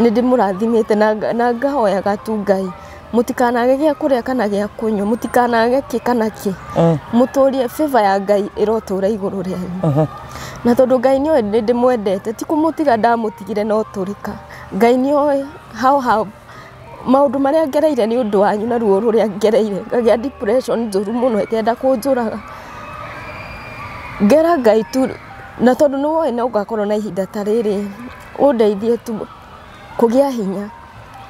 Nĩ ndĩmũrathimĩte na ngahoyaga tu Ngai, mũtikanage gĩa kũrĩa kana gĩa kũnyua, mũtikanage kĩ kana kĩ, mũtũrie favor ya Ngai ĩrotũra igũrũ rĩanyu. Na tondũ Ngai nĩ oĩ nĩ ndĩmwendete, ti kũmũtiga ndamũtigire no tũrĩka. Ngai nĩ oĩ how Maũndũ marĩa ngereire nĩ ũndũ wanyu na ruo rũrĩa ngereire, ngagĩa depression njũru mũno ĩkenda kũnjũraga. Ngera Ngai tu, na tondũ nĩ woĩ no ngakorwo na ihinda ta rĩrĩ, ũndeithie tu kũgĩa hinya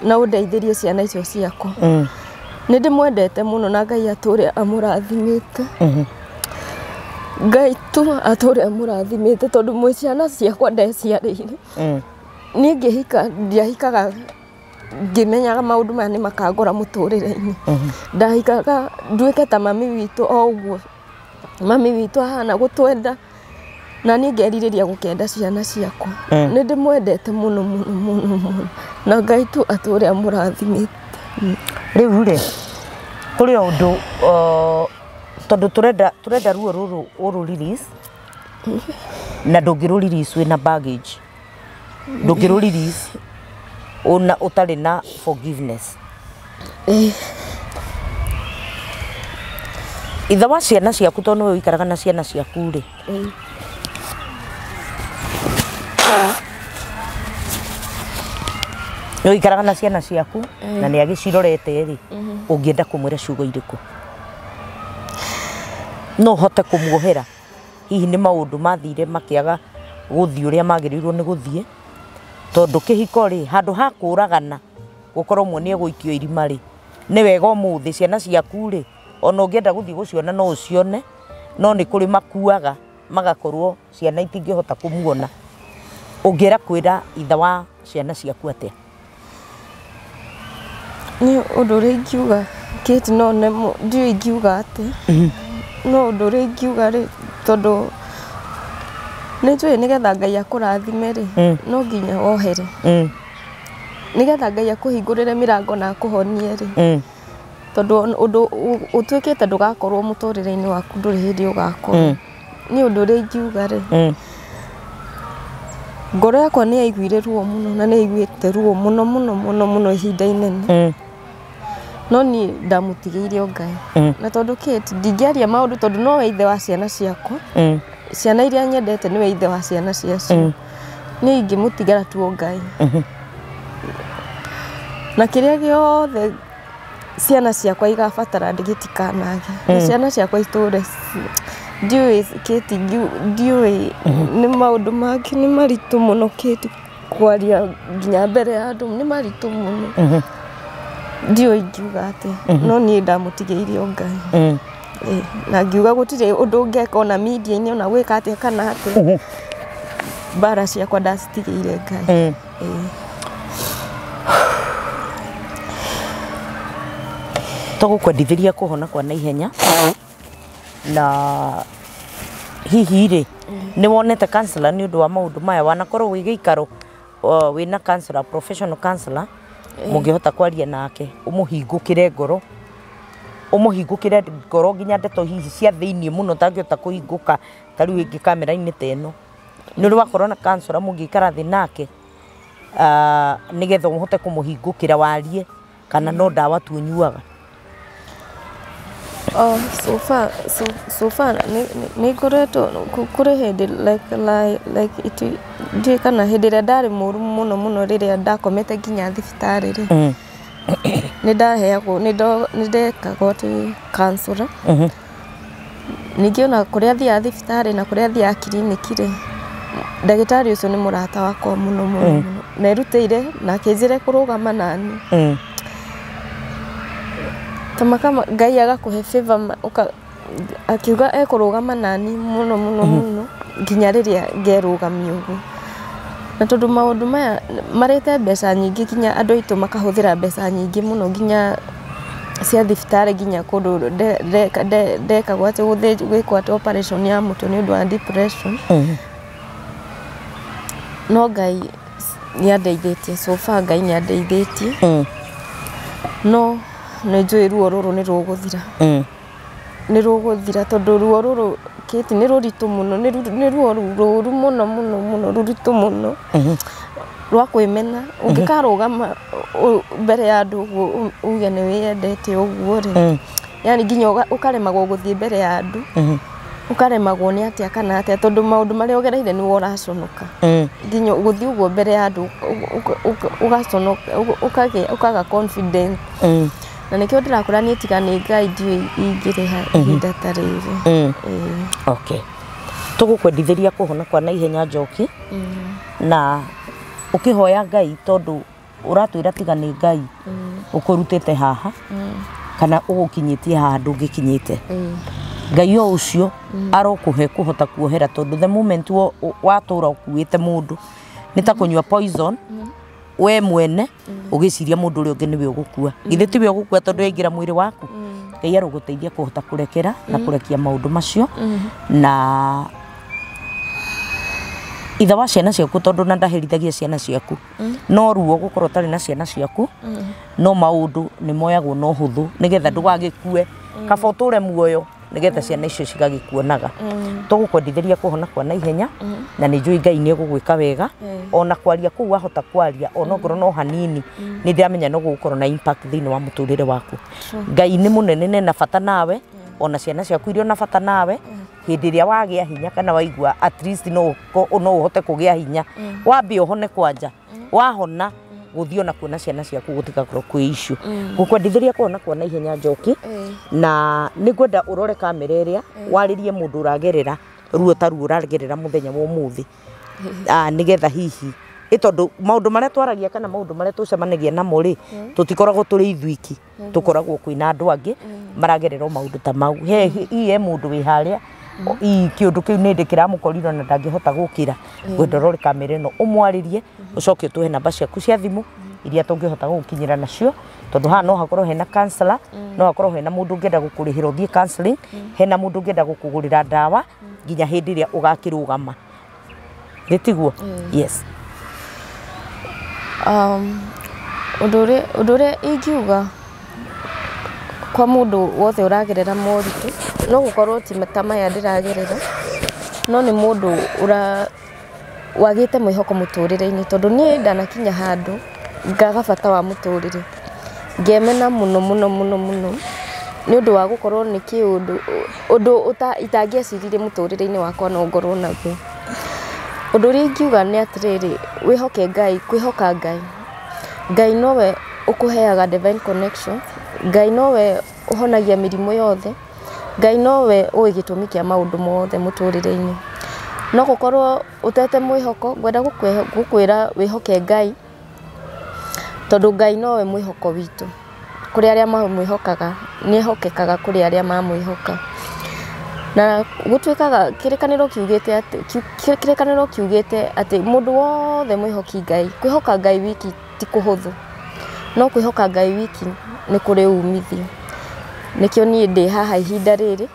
na ũndeithĩrie ciana icio ciakwa. Nĩ ndĩmwendete mũno na Ngai atũre amũrathimĩte. Ngai tu atũre amũrathimĩte tondũ mwĩ ciana ciakwa ndeciarĩire. Niĩ ngĩhika ndiahikaga... ngĩmenyaga maũndũ maya nĩ makangora mũtũrĩre-inĩ. Ndaikaraga nduĩke ta mami witũ o ũguo. Mami witũ ahana gũtwenda, na niĩ ngerirĩria gũkenda ciana ciakwa. Nĩ ndĩmwendete mũno mũno mũno mũno. Na Ngai tu atũre amũrathimĩte. Rĩu rĩ, kũrĩ o ũndũ tondũ tũrenda tũrenda ruo rũrũ ũ rũ release, na ndũngĩ rũ release wĩna baggage. ndũngĩrũ release ona ũtarĩ na forgiveness ithe wa ciana ciaku tondũ nĩwe ũikaraga na ciana ciaku rĩ nĩ ũikaraga na ciana ciaku na nĩ agĩcirorete rĩ ũngĩenda kũmwĩra ciugo irĩkũ no ũhote kũmuohera hihi nĩ maũndũ mathire makĩaga gũthiĩ ũrĩa magĩrĩirwo nĩ gũthiĩ, tondũ kĩhiko rĩ, handũ ha kũragana gũkorwo ũmwe nĩ egũikio irima rĩ, nĩ wega ũmũthĩ ciana ciaku rĩ, ona ũngĩenda gũthiĩ gũciona no ũcione, no nĩ kũrĩ makuaga magakorwo ciana itingĩhota kũmuona, ũngĩenda kwĩra ithe wa ciana ciaku atĩa? Niĩ ũndũ ũrĩa ingiuga Kate no nemwo, ndiũĩ ingiuga atĩa, no ũndũ ũrĩa ingiuga rĩ, tondũ nĩ njũĩ nĩ getha Ngai akũrathime rĩ, no nginya wohere. Nĩ getha Ngai akũhingũrĩre mĩrango na akũhonie rĩ, tondũ ũndũ ũtuĩkĩte ndũgakorwo mũtũrĩre-inĩ waku ndũrĩ hĩndĩ ũgakorwo. Niĩ ũndũ ũrĩa ingiuga rĩ, ngoro yakwa nĩ yaiguire ruo mũno na nĩ yaiguĩte ruo mũno mũno mũno mũno ihinda inene. No niĩ ndamũtigĩire o Ngai. Na tondũ Kate ndingĩaria maũndũ tondũ nowe ithe wa ciana ciakwa, ciana irĩa nyendete nĩwe ithe wa ciana ciacio. Niĩ ingĩmũtigĩra tu o Ngai. Na kĩrĩa gĩothe... ciana ciakwa igabatara gĩtikanage. Na mm. ciana ciakwa itũre ndiũĩ kĩti ndiũĩ nĩ maũndũ mangĩ nĩ maritũ mũno kĩti kwaria nginya mbere ya andũ nĩ maritũ mũno mm-hmm. ndiũĩ ingiuga atĩa mm-hmm. no niĩ ndamũtigĩire o ngai mm. eh, na ngiuga gũtirĩ ũndũ ngeka ona media-inĩ ona gwĩka atĩa kana atĩa mm-hmm. mbara ciakwa ndacitigĩire ngai Tũgũkwendithĩria kũhona kwa naihenya na hihi rĩ nĩ wonete counselor nĩ ũndũ wa maũndũ maya wanakorwo wĩ gĩikaro uh, wĩna counselor professional counselor mũngĩhota kwaria nake ũmũhingũkĩre ngoro ũmũhingũkĩre ngoro nginya ndeto hihi cia thĩinĩ mũno ũtangĩhota kũhingũka ta rĩu ĩngĩ kamera-inĩ ta ĩno Nĩ ũrĩ wakorwo na counsellor mũngĩikara thĩ nake nĩgetha ũhote kũmũhingũkĩra warie kana no ndawa tu ũnyuaga? So far nĩ ngoretwo, kũrĩ hĩndĩ like ndiũĩ kana hĩndĩ ĩrĩa ndarĩ mũru mũno mũno rĩrĩa ndakomete nginya thibitarĩ rĩ, nĩ ndaheagwo, nĩ ndekaga ũtũ counsellor. Ningĩ ona kũrĩa athiaga thibitarĩ na kũrĩa athiaga kiriniki rĩ, ndagĩtarĩ ũcio nĩ mũrata wakwa mũno mũno mũno. Na erutĩire na akĩnjĩra ekũrũgama na niĩ. Ngai agakũhe favor ma akiuga ekũrũgama na niĩ mũno mũno mũno nginya rĩrĩa ngerũgamia ũguo. Na tondũ maũndũ maya marĩte mbeca nyingĩ nginya andũ aitũ makahũthĩra mbeca nyingĩ mũno nginya... cia thibitarĩ nginya kũndũ ndekagwo atĩ gwĩkwo atĩ operation ya mũtwe nĩ ũndũ wa depression. No Ngai nĩ andeithĩtie so far Ngai nĩ andeithĩtie. No nĩ njũĩ ruo rũrũ nĩ rũgũthira. nĩ rũgũthira tondũ ruo rũrũ Kate nĩ rũritũ mũno, nĩ ruo rũru mũno mũno mũno rũritũ mũno rwa kwĩmena. Ũngĩkarũgama mbere ya andũ ũguo uge nĩ wĩyendete ũguo rĩ, yaani nginya ũkaremagwo gũthiĩ mbere ya andũ, ũkaremagwo nĩ atĩa kana atĩa tondũ maũndũ marĩa ũgereire nĩwe ũraconoka. Nginya gũthiĩ ũguo mbere ya andũ ũgaconoka, ũkaga confidence. na nĩkĩo ndĩrakũra niĩ tiga nĩ ngai ndiũĩ ingĩrĩha ihinda ta rĩrĩ Ĩĩ. okay tũgũkwendithĩria kũhona kwa naihenya njoki na ũkĩhoya ngai tondũ ũratwĩra tiga nĩ ngai ũkũrutĩte haha kana ũgũkinyĩtie haha ndũngĩkinyĩte ngai o ũcio arokũhe kũhota kuohera tondũ the moment wo- watũra ũkuĩte mũndũ nĩ ta kũnyua poison we mwene ũgĩciria mũndũ ũrĩa ũngĩ nĩwe ũgũkua githĩ tiwe ũgũkua tondũ yaingĩra mwĩrĩ waku ngai arũgũteithia kũhota kũrekera na kũrekia maũndũ macio na ithe wa ciana ciaku tondũ na ndaherithagia ciana ciaku no ruo gũkorwo ũtarĩ na ciana ciaku no maũndũ nĩ moyagwo na ũhũthũ nĩgetha ndũgagĩkue kaba ũtũre muoyo nĩgetha ciana icio cigagĩkuonaga tũgũkwendithĩria kuhona kwa naihenya na nĩ njũĩ ngai nĩ ũgũgwĩka wega ona kwaria kũu wahota kwaria ona ngoro no hanini nĩ ndĩramenya no gũgũkorwo na impact thĩinĩ wa mũtũrĩre waku ngai nĩ mũnene na ena bata nawe ona ciana ciaku irĩ ona bata nawe hĩndĩ ĩrĩa wagĩa hinya kana waigua at least no ũko- no ũhote kũgĩa hinya wambe ũhone kwanja wahona gũthiĩ ona kuona ciana ciaku gũtigakorwo kwĩ icu gũkwendithĩria kũhona kuona ihenya njoki na nĩ ngwenda ũrore kamera ĩrĩa warĩrie mũndũ ũragerera ruo ta ruo ũragerera mũthenya wa ũmũthĩ Ah, nĩgetha hihi ĩ tondũ maũndũ marĩa twaragia kana maũndũ marĩa tũcemanagia namo rĩ tũtikoragwo tũrĩ ithuiki tũkoragwo kwĩna andũ angĩ maragerera o maũndũ ta mau. He hihi he mũndũ wĩ harĩa hihi kĩũndũ kĩu nĩndĩ kĩramũkorire na ndangĩhota gũkĩra, ngwenda ũrore kamera ĩno ũmwarĩrie, ũcoke ũtũhe namba ciaku cia thimũ iria tũngĩhota gũgũkinyĩra nacio, tondũ haha no hakorwo hena counsellor, no hakorwo hena mũndũ ũngĩenda gũkũrĩhĩra ũthiĩ counselling, hena mũndũ ũngĩenda gũkũgũrĩra ndawa nginya hĩndĩ ĩrĩa ũgakĩrũgama. gĩtiguo yes Um, ũndũ ũrĩa ũndũ ũrĩa ingiuga kwa mũndũ wothe ũragerera moritũ no gũkorwo ti ta maya ndĩragerera no nĩ mũndũ ũra wagĩte mwĩhoko mũtũrĩre-inĩ tondũ niĩ ndanakinya handũ ngaga bata wa mũtũrĩre, ngemena mũno mũno mũno mũno nĩ ũndũ wa gũkorwo nĩ kĩũndũ, ũndũ itangĩeciririe mũtũrĩre-inĩ wakwa no ngorwo naguo. Ũndũ ũrĩa ingiuga nĩ atĩrĩrĩ, wĩhoke Ngai, kwĩhoka Ngai, Ngai nowe ũkũheaga Divine Connection, Ngai nowe ũhonagia mĩrimũ yothe, Ngai nowe ũĩ gĩtũmi kĩa maũndũ mothe mũtũrĩre-inĩ. No gũkorwo Ũtete mwĩhoko, ngwenda gũkwĩra wĩhoke Ngai, tondũ Ngai nowe mwĩhoko witũ, kũrĩ arĩa mamwĩhokaga, nĩ ehokekaga kũrĩ arĩa mamwĩhoka. Na gũtuĩkaga, kĩrĩkanĩro kiugĩte atĩ, kĩrĩkanĩro kiugĩte atĩ mũndũ wothe mwĩhoki Ngai, kwĩhoka Ngai wiki ti kũhũthũ, no kwĩhoka Ngai wiki nĩ kũrĩ umithio. Nĩkĩo niĩ ndĩ haha ihinda rĩrĩ.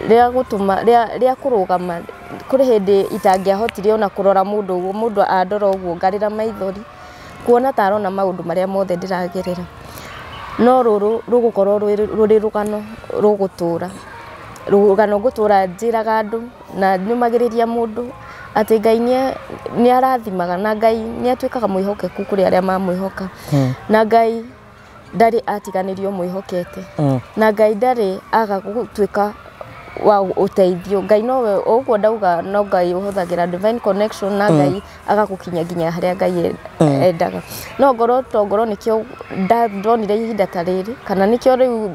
rĩa gũtũma, rĩa, rĩa kũrũgama, kũrĩ hĩndĩ itangĩahotire ona kũrora mũndũ ũguo, mũndũ andora ũguo ngarĩra maithori, kuona ta arona maũndũ marĩa mothe ndĩragerera. No rũrũ rũgũkorwo rwĩ, rũrĩ rũgano rũgũtũra, rũgano ngũtũra njĩraga andũ, na nyũmagĩrĩria mũndũ, atĩ Ngai nĩa, nĩarathimaga na Ngai nĩatwĩkaga mwĩhokeku kũrĩ arĩa mamwĩhoka, na Ngai. ndarĩ atiganĩrio mwĩhokete. Mm. Na Ngai ndarĩ aga gũtuĩka wa ũteithio. Ngai nowe ũguo ndauga no Ngai ũhũthagĩra divine connection na mm. Ngai agagũkinya nginya harĩa Ngai e- mm. endaga. No ngoro to ngoro nĩkĩo ndonire ihinda ta rĩrĩ kana nĩkĩo rĩu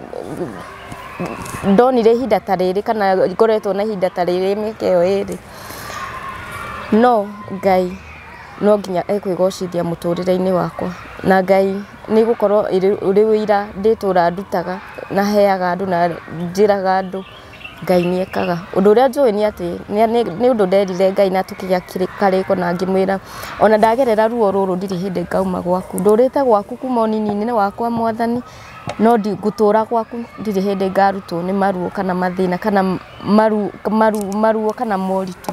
ndonire ihinda ta rĩrĩ kana ngoretwo na ihinda ta rĩrĩ mĩaka ĩyo ĩrĩ. No Ngai No nginya ekwĩgocithia mũtũrĩre-inĩ wakwa, na Ngai nĩ ĩgũkorwo ũrĩ ũira ndĩ itũra ndutaga na heaga andũ na njĩraga andũ, Ngai nĩ ekaga. Ũndũ ũrĩa njũĩ nĩ atĩ nĩ ũndũ nderire Ngai na tũkĩgĩa karĩko na ngĩmwĩra ona ndagerera ruo rũrũ ndirĩ hĩndĩ ngauma gwaku. Ndũrĩte gwaku kuma ũnini-inĩ wakwa Mwathani, no ngũtũra gwaku ndirĩ hĩndĩ ngarutwo nĩ maruo kana mathĩna kana maruo kana moritũ.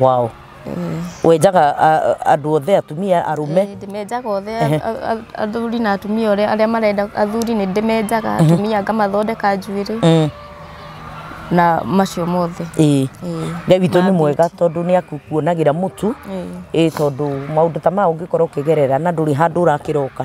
wow wenjaga a- a- andũ othe atumia arume Ĩĩ, ndĩmenjaga othe a- a- a- athuri na atumia ũrĩa arĩa marenda athuri nĩ ndĩmenjaga atumia ngamathondeka njuĩrĩ Mm, na macio mothe ĩĩ Ĩĩ. ngai witũ nĩ Ma mwega tondũ nĩ akuonagĩra mũtu Ĩĩ. ĩĩ tondũ maũndũ ta maya ũngĩkorwo ũkĩgerera na ndũrĩ handũ ũrakĩroka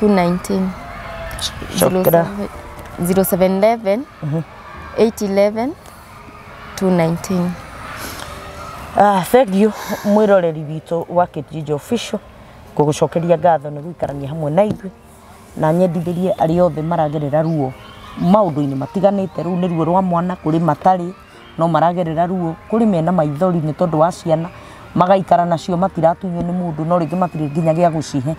219 Shukran. 0711 811 219 Ah, thank you mwiroreri witå wa Kitjinja official ngũgũcokeria ngatho nä gũikarania hamwe na ithuĩ na nyendithĩrie arĩa othe maragerera ruo maũndũ-inĩ matiganĩte rĩu nĩ ruo rwa mwana kũrĩ matarĩ no maragerera ruo kũrĩ mena maithori nĩ tondũ wa ciana magaikara nacio matiratunywo nĩ mũndũ no rĩngĩ matirĩ nginya gĩa gũcihe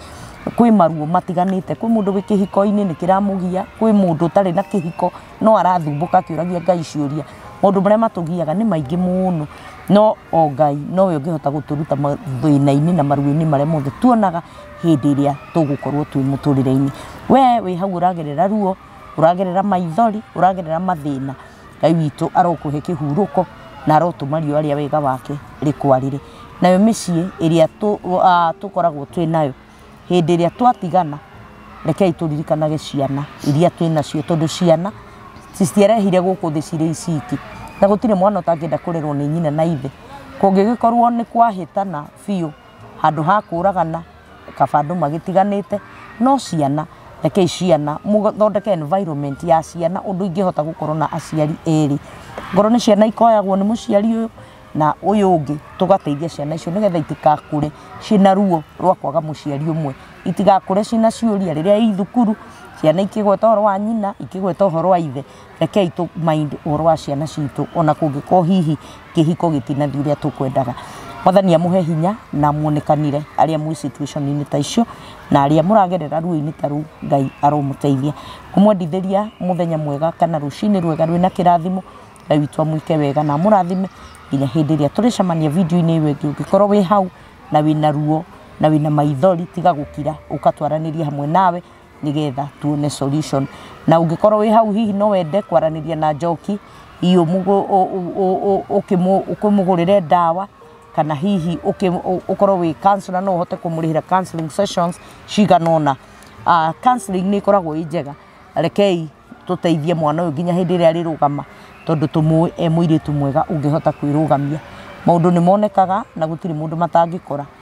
kwĩ maruo matiganĩte kwĩ mũndũ wĩ kĩhiko-inĩ nĩ kĩramũgia kwĩ mũndũ ũtarĩ na kĩhiko no arathumbũka akĩũragia ngai ciũria maũndũ marĩa matũgiaga nĩ maingĩ mũno no o ngai nowe ũngĩhota gũtũruta mathĩna-inĩ na maruo-inĩ marĩa mothe tuonaga hĩndĩ ĩrĩa tũgũkorwo twĩ mũtũrĩre-inĩ we wĩ hau ũragerera ruo ũragerera maithori ũragerera mathĩna Ngai witũ arokũhe kĩhurũko na arotũma riũa rĩa wega wake rĩkwarĩre. Nayo mĩciĩ ĩrĩa tũkoragwo twĩ nayo, hĩndĩ ĩrĩa twatigana, rekei tũririkanage ciana iria twĩ nacio tondũ ciana citiarehire gũkũ thĩ cirĩ iciki. Na gũtirĩ mwana ũtangĩenda kũrerwo nĩ nyina na ithe. Kũngĩgĩkorwo nĩ kwahĩtana biũ handũ ha kũragana... kaba andũ magĩtiganĩte, no ciana, rekei ciana, mũthondeke environment ya ciana ũndũ ingĩhota gũkorwo na aciari erĩ. Ngorwo nĩ ciana ikoyagwo nĩ mũciari ũyũ, na ũyũ ũngĩ, tũgateithia ciana icio nĩgetha itigakũre ciĩna ruo rwa kwaga mũciari ũmwe. Itigakũre ciĩna ciũria rĩrĩa i thukuru, ciana ikĩgweta ũhoro wa nyina, ikĩgweta ũhoro wa ithe. rekei tũ mind ũhoro wa ciana citũ ona kũngĩkorwo hihi kĩhiko gĩtinathiĩ ũrĩa tũkwendaga mwathani amũhe hinya na muonekanire arĩa mwĩ situation-inĩ ta icio na arĩa mũragerera ruo-inĩ ta rũu ngai aromũteithia kũmwendithĩria mũthenya mwega kana rũcinĩ rwega rwĩna kĩrathimo ngai witũ amwĩke wega na amũrathime nginya hĩndĩ ĩrĩa tũrĩcemania video-inĩ ĩyo ĩngĩ ũngĩkorwo wĩ hau na wĩna ruo na wĩna maithori tiga gũkira ũkatwaranĩria hamwe nawe nĩgetha tuone solution. Na ũngĩkorwo wĩ hau hihi no wende kwaranĩria na Njoki, hihi ũkĩmũgũrĩre ndawa, kana hihi ũkorwo wĩ counsellor no ũhote kũmũrĩhĩra counselling sessions cigana ũna. Counselling nĩ ĩkoragwo ĩ njega, rekei tũteithie mwana ũyũ nginya hĩndĩ ĩrĩa arĩrũgama tondũ tũmũĩ e mũirĩtu mwega ũngĩhota kwĩrũgamia. Maũndũ nĩ monekaga na gũtirĩ mũndũ matangĩkora.